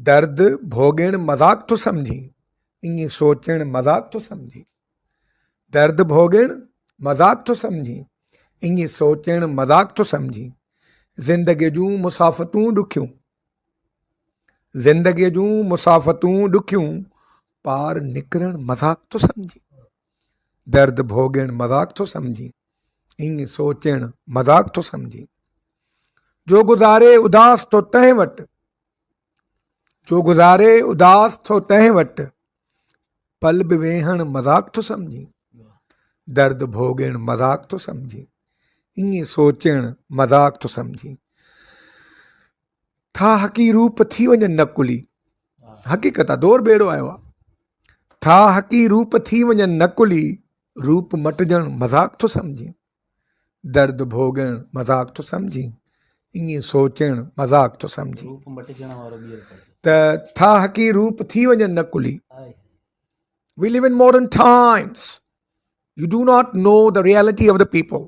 درد ڀوڳڻ مذاق ٿو سمجهين ائين سوچڻ مذاق ٿو سمجهين درد ڀوڳڻ مذاق ٿو سمجهين ائين سوچڻ مذاق ٿو سمجهين زندگي جون مسافتون ڏکيون زندگي جون مسافتون ڏکيون پار نڪرڻ مذاق ٿو سمجهين درد ڀوڳڻ مذاق ٿو سمجهين ائين سوچڻ مذاق ٿو سمجهين جو گذاري اداس ٿو تنهن وٽ جو گذاري اداس ٿو تنهن وٽ پل به ويهڻ مذاق ٿو سمجهين درد ڀوڳڻ مذاق ٿو سمجهين ائين سوچڻ مذاق ٿو سمجهين ٿا حقي روپ ٿي وڃن نه ڪلي حقيقت آ دور بيڙو آيو آ ٿا حقي روپ ٿي وڃن نه ڪلي روپ مٽجڻ مذاق ٿو سمجهين درد ڀوڳڻ مذاق ٿو سمجهين ائين سوچڻ مذاق ٿو سمجهين روپ مٽجڻ وارو ٻيهر ته ٿا حقي روپ ٿي وڃن نه ڪلي we live in modern times you do not know the reality of the people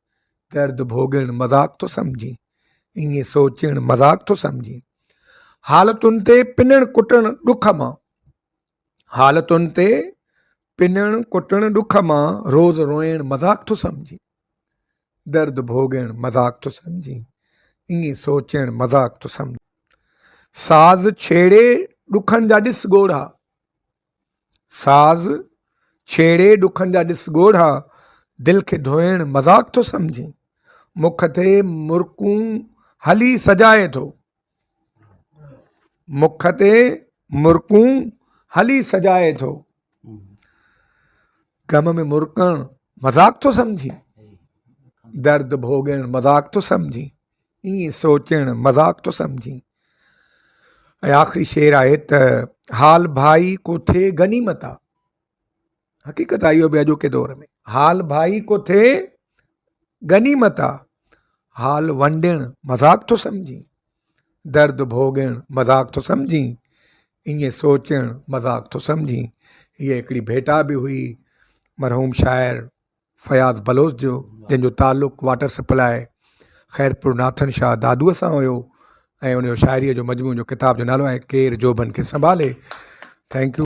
درد ڀوڳڻ مذاق ٿو سمجهين، ائين سوچڻ مذاق ٿو سمجهين، حالتن تي پنڻ ڪٽڻ ڏک مان، حالتن تي پنڻ ڪٽڻ ڏک مان، روز روئڻ مذاق ٿو سمجهين، درد ڀوڳڻ مذاق ٿو سمجهين، ائين سوچڻ مذاق ٿو سمجهين، ساز ڇيڙي ڏکن جا ڏس ڳوڙها، ساز ڇيڙي ڏکن جا ڏس ڳوڙها دل کي ڌوئڻ مذاق ٿو سمجهين مک تي مرڪون هلي سجائي ٿو مک تي مرڪون هلي سجائي ٿو غم ۾ مرڪڻ مذاق ٿو سمجهين درد ڀوڳڻ مذاق ٿو سمجهين ائين سوچڻ مذاق ٿو سمجهين ۽ آخري شعر آهي ته حال ڀائي ڪو ٿئي غنيمت آ حقيقت آ اهو بي اڄوڪي دور ۾ حال ڀائي ڪو ٿئي غنيمت آ حال ونڊڻ مذاق ٿو سمجهين درد ڀوڳڻ مذاق ٿو سمجهين ائين سوچڻ مذاق ٿو سمجهين هيء هڪڙي ڀيٽا به هئي مرحوم شاعر فياض بلوچ جو جنهن جو تعلق واٽر سپلاء خيرپور ناٿن شاهه دادوء سان هيو ۽ ان جو شاعريء جو مجموعو جو ڪتاب جو نالو آهي ڪير جوڀن کي سنڀالي ٿينڪ يو